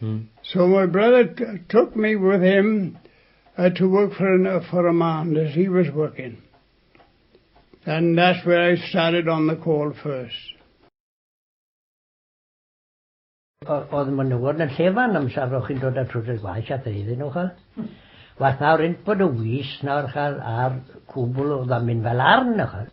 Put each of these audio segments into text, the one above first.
Hmm. So my brother took me with him uh, to work for, an, uh, for a man that he was working. And that's where I started on the call first. Oedd ma'n newod yn llefan am safrwch chi'n dod at rwyd y gwaith at ei ddyn nhw chael. Wath nawr un bod y wys nawr chael ar cwbl o ddamin fel arn o chael.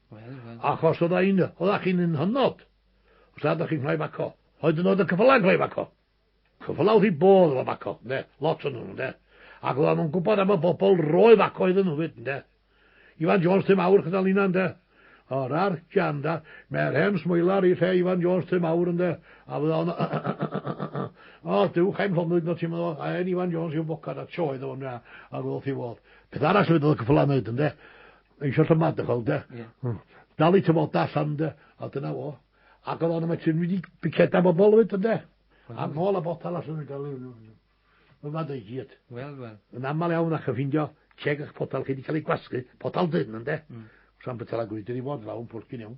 Wel, wel. Ac os oedd ein, oeddach chi'n un hynod. Os ydych chi'n rhoi faco. Hyd yn oed y cyfyla'n rhoi faco. Cyfylau wrth i bodd efo faco, ne, lot o'n nhw, ne. Ac oedden nhw'n gwybod am y bobl roi faco iddyn nhw fyd, ne. Ifan Jones Tim Awr, gyda Lina, ne. Yr arjan, da. Mae'r hen smwylar i lle Ifan Jones Tim Awr, ne. A fydda o'n... O, dyw Chaim Llonydd, no ti'n meddwl, a hen Ifan Jones i'w bocad a sioedd o'n na, ac oedd wrth i fod. Peth arall fyd oedd y cyfylau wneud, ne. Eisiau lle mad fel de. Yeah. Hmm. Dal i tyfod allan de. A dyna fo. Ac oedd o'n yma ti'n wedi biceda bobl fyd ynde. A nôl a botal allan yn gael ei wneud. Mae'n fad ei gyd. Wel, wel. Yn aml iawn ac yn ffindio ceg a'ch potal chi wedi cael ei gwasgu, potal dyn ynde. Mm. Sa'n bethau a gwyd i fod lawn pwrcyn iawn.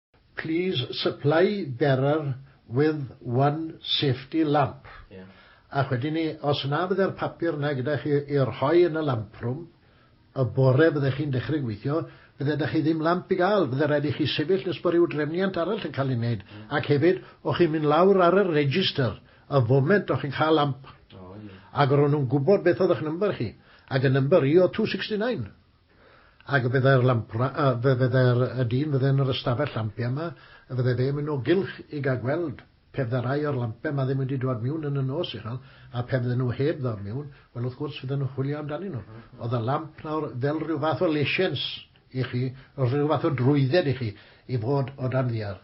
Please supply bearer with one safety lamp. Ac wedyn 'ny, os na fydde'r papur 'na gyda chi i rhoi yn y lamp room, y bore bydde chi'n dechre gweithio, fydde 'da chi ddim lamp i ga'l, fydde raid i chi sefyll nes bo' ryw drefniant arall yn ca'l 'i neud, ac hefyd, o' chi'n mynd lawr ar y register y foment o' chi'n ca'l lamp, ag o' ro'n nw'n gwbod beth o'dd 'ych number chi, ag y number i o'dd two sixty nine. Ac fe fyddai'r lampra- yy, fe fyddai'r y dyn fyddai yn yr ystafell lampia 'ma, y fyddai fe'n mynd o gylch i gael gweld, pe fydda rai o'r lampia 'ma ddim wedi dwad miwn yn y nos uchel, a pe fydden nhw heb ddod miwn, wel, wrth gwrs, fydden nhw'n chwilio amdanyn nhw. Oedd y lamp nawr fel rhyw fath o lesiens i chi, rhyw fath o drwydded i chi, i fod o dan ddiar.